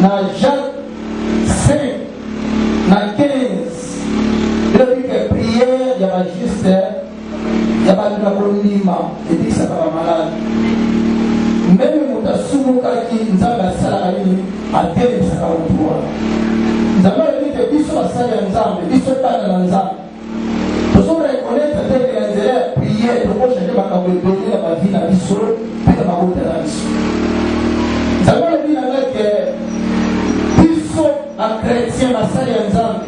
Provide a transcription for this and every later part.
na Jacques 5 na 15 elobike priere ya bajuste ya bato na kondima ebikisaka bamalade meme moto asumukaki nzambe asalaka nini atelemisaka motu wana nzambe alobi te biso basali ya nzambe biso bana na nzambe tozo reconnaitre te que na nzela ya prière toko changer makambo ebele na bavi na biso mpe na mabota na biso nzambe alobi na ngai ke biso bachrétien basali ya nzambe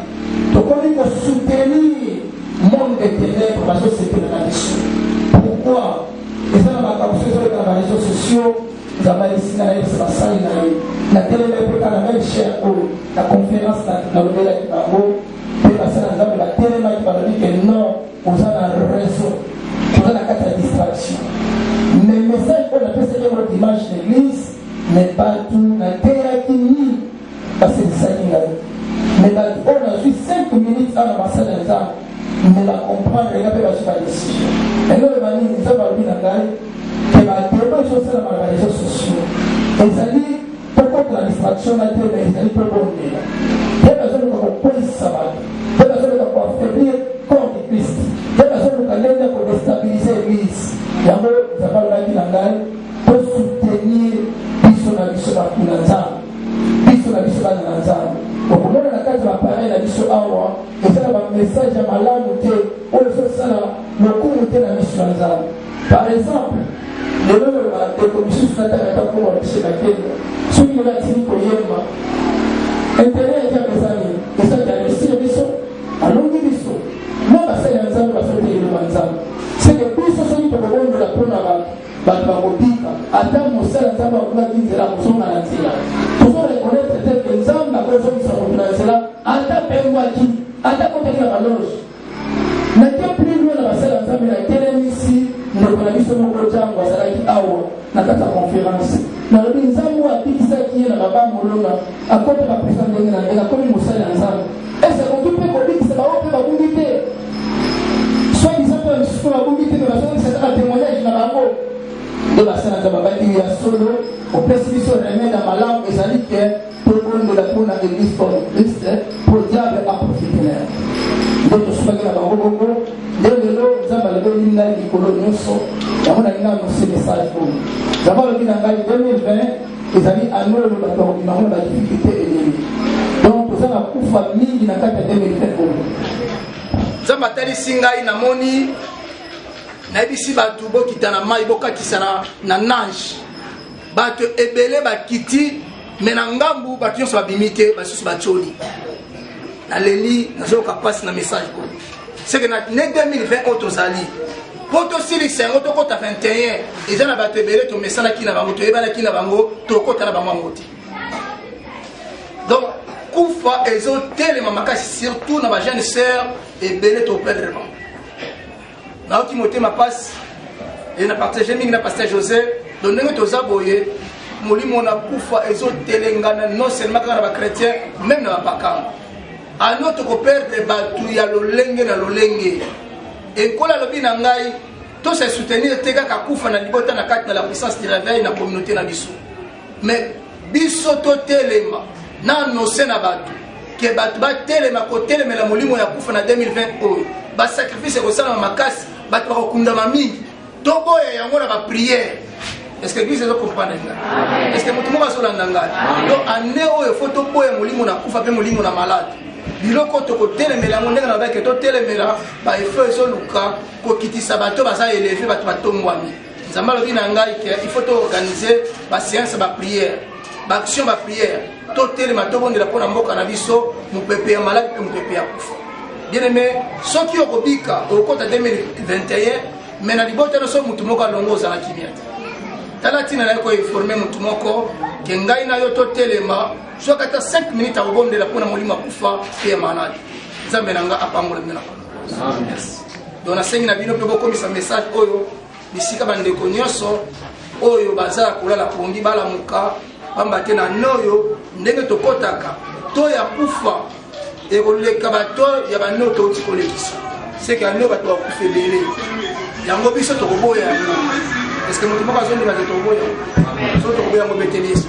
tokomi kosoutenir monde de ténèbre bazosepela na biso pourquoi eza na makambo soki ezoleka na bareseau sociaux nzambe ayebisi na yebisa basali na ye natelemaki mpe kaka meme cher oyo na conférence nalobelaki bango mpe basi na nzambe batelemaki balobi ke non oza na raison toza na kati ya distraction mais message oyo napesaki yango dimanche l'église mais bato nateyaki nini basekisaki ngai mais bato oyo nazwi 5 minutes awa na masala ya nzambe mais bacomprendre nga mpe bazwi badecision eloko banini nzambe alobi na ngai ke batebo ezosalamaka na réseau sociaux ezali tokotela distraction na te na ezali mpe bondela ye bazoluka kokweyisa bato ye bazoluka koaffaiblir corps de christ ye bazoluka ndenge ya kodestabilize eglise yango nzambe alobaki na ngai tosoutenir biso na biso bato na nzambe biso na biso bana na nzambe okomona na kati ya bapareil na biso awa eza na bamessage ya malamu te oyo ezosala lokumu te na miso ya nzambe Par exemple, lelo oyo bandeko misusu nataka ata koma biso na kenya soki lelo atiki koyemba interet eza eza nini eza diagnostic biso alongi biso na basali ya nzambe basoki eloma nzambe seke biso soki tokobondola mpo na bato bakobika ata mosala nzambe akolaki nzela kozonga na nzela tozo reconnaître te ke nzambe akozongisa moto na nzela ata pengwaki ata kotaki na baloge Natia prix loin na basali ya Nzambe, natelemisi ndeko na biso moko Django, azalaki awa na kati ya conference. Nalobi Nzambe oyo abikisaki ye na baba molona, akoti ba prison ndenge na ndenge, akomi mosali ya Nzambe. Est-ce que akoki mpe kobikisa baoyo mpe babungi te? Soit disant mpe bamisusu mpe babungi te, mpe bazongisa kaka témoignage na bango. Nde basali ya Nzambe babaki ya solo, opesi biso remède ya malamu, ezali que Tobondela mpo na Eglise Corps de Christ mpo diable aprofite na yango. Nde tosukaki na bango bongo, nde lelo Nzambe alobeli ngai likolo nyonso, yango nalingi anonse message oyo. Nzambe alobi na ngai 2020 ezali année oyo bato bakobima yango na badifikulte ebele. Donc toza na kufa mingi na kati ya 2020 oyo. Nzambe atalisi ngai namoni nayebisi bato bokita na mai bokatisa na, na nage bato ebele bakiti me na ngambu bato nyonso babimi te basusu batioli naleli nazoyoka mpasi na message oyo seke na ne 2020 oyo tozali mpo tosilisa yango tokɔta 21 eza na bato ebele tomesanaki na bango toyebanaki na bango tokɔta na bango yango te donc kufa ezotelema makasi surtout na bajeune sœur ebele toperdre bango nayoki motema mpasi e na partage mingi na pasteur josé don ndenge toza boye molimo na kufa ezotelengana non seulement kaka na bachrétien meme na bapakano ano tokoperdre bato ya lolenge na lolenge ekola alobi na ngai tose soutenir te kaka kufa na libota na kati na la puissance du réveil na communauté na biso mais biso totelema na annonce na bato ke bato batelema kotelemela molimo ya kufa na 2020 oyo basacrifice ekosalama makasi bato bakokundama mingi toboya yango na bapriere est-ce que eglise ezokomprendre ngai est-ce que moto moko azolanda ngai to ane oyo fo toboya molimo na kufa mpe molimo na malade biloko tokotelemela yango ndenge nalobaki totelemela baefo ezoluka kokitisa bato baza eleve bato batombwami nzambe alobi na ngai ke il faut toorganize baseance bapriere baaction bapriere totelema tobondela mpo na mboka na biso mopepe ya maladi mpe mopepe ya kufa bien aime soki okobika okokota 2021 me na libota nyonso motu moko alongo ozala kimia te tala ntina na ye koinforme motu moko ke ngai na yo totelema soki ata 5 minute akobondela mpo na molimo akufa mpe ya maladi nzambe na ngai apambola bino na donc nasengi na bino mpe bokomisa message oyo bisika bandeko nyonso oyo baza ya kolala pongi balamuka pamba te na noyo ndenge tokɔtaka to ya kufa ekoleka bato ya bano touti kolekisa seke ano bato bakufa ebele yango biso tokoboya yango parceke moto moko azondima te tokoboya yango so tokoboya yango beteli yesu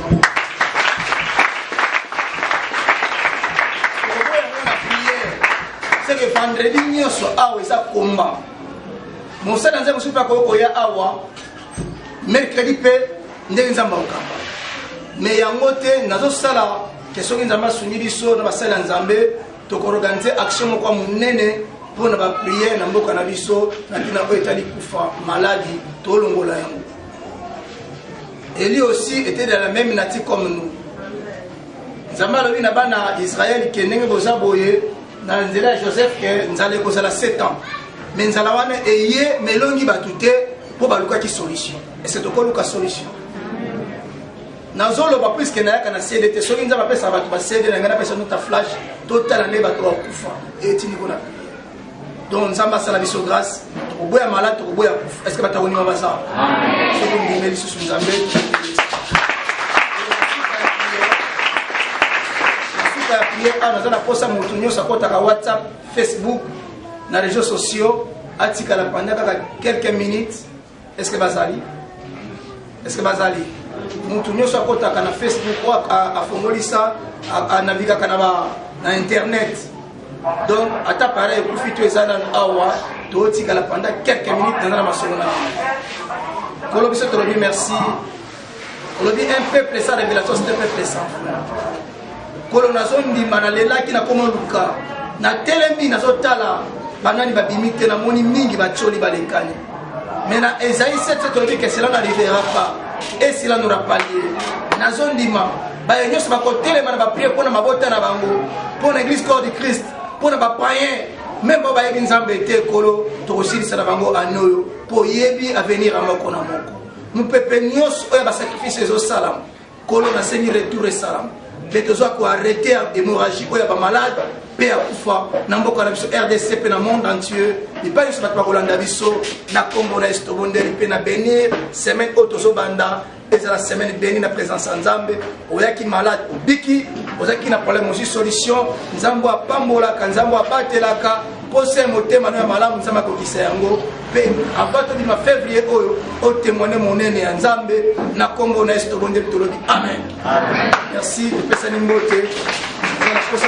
c'est que vendredi nyonso awa eza komba mosala nzambe mosusu mpe akoki koya awa mercredi mpe ndenge nzambe akokamba me yango te nazosala ke soki nzambe asungi biso na basali ya nzambe tokoorganize action moko ya monene mpo na bapriere na mboka na biso na ntina oyo etali kufa maladi tolongola yango eli aussi etedala meme nati comme nous nzambe alobi na bana ya israele ke ndenge boza boye na nzela ya joseph ke nzala ekozala 7 ans me nzala wana eye melongi bato te mpo balukaki solution ese tokoluka solution nazoloba puiske nayaka na cd te soki nzambe apesaka bato ba cd na ngai napesa nota flash totala nde bato bakufa etindiko na donc nzambe asala biso grâce tokoboya malade tokoboya kufa est ce que bato akonima baza soki ondimeli lisusu nzambe nasuka ya priere awa naza na mposa moto nyonso akotaka whatsapp facebook na réseau sociaux atikala panda kaka quelques minutes est ce que bazali est ce que bazali moto nyonso akotaka na facebook oyo afongolisa anavigaka na ba na internet donc ata pareil ekufi to eza nano awa totikala pendant quelques minutes naza na masolo na kolo biso tolobi merci olobi un peuple sans révélation c'est un peuple sans foi kolo nazondima nalelaki nakoma luka natelemi nazotala banani babimi te namoni mingi batioli balekani mais na ezai 7 tolobi ke cela n'arrivera pas et cela n'aura pas lieu nazondima baye nyonso bakotelema na bapriere mpo na mabota na bango mpo na église corps du christ mpo na bapayen meme bao bayebi nzambe te ekolo tokosilisa na bango anoyo mpo oyebi avenir ya moko na moko mopepe nyonso oyo ya basacrifice ezosalama kolo nasengi retour esalama mpe tozwa koarrete ya hémorragie oyo ya bamalade mpe ya kufa na mboka na biso rdc mpe na monde entier epai nyonso bato bakolanda biso na nkombo na yesu tobondeli mpe na benir semaine oyo tozobanda ezala semaine beni na présence ya nzambe oyaki malade obiki ozalaki na problème ozwi solution nzambe apambolaka nzambe abatelaka posa ya motema no ya malamu nzambe akokisa yango mpe ava tobima fevrier oyo otemwane monene ya nzambe na nkombo na yesu tobondeli tolobi amen merci topesani mbote na posa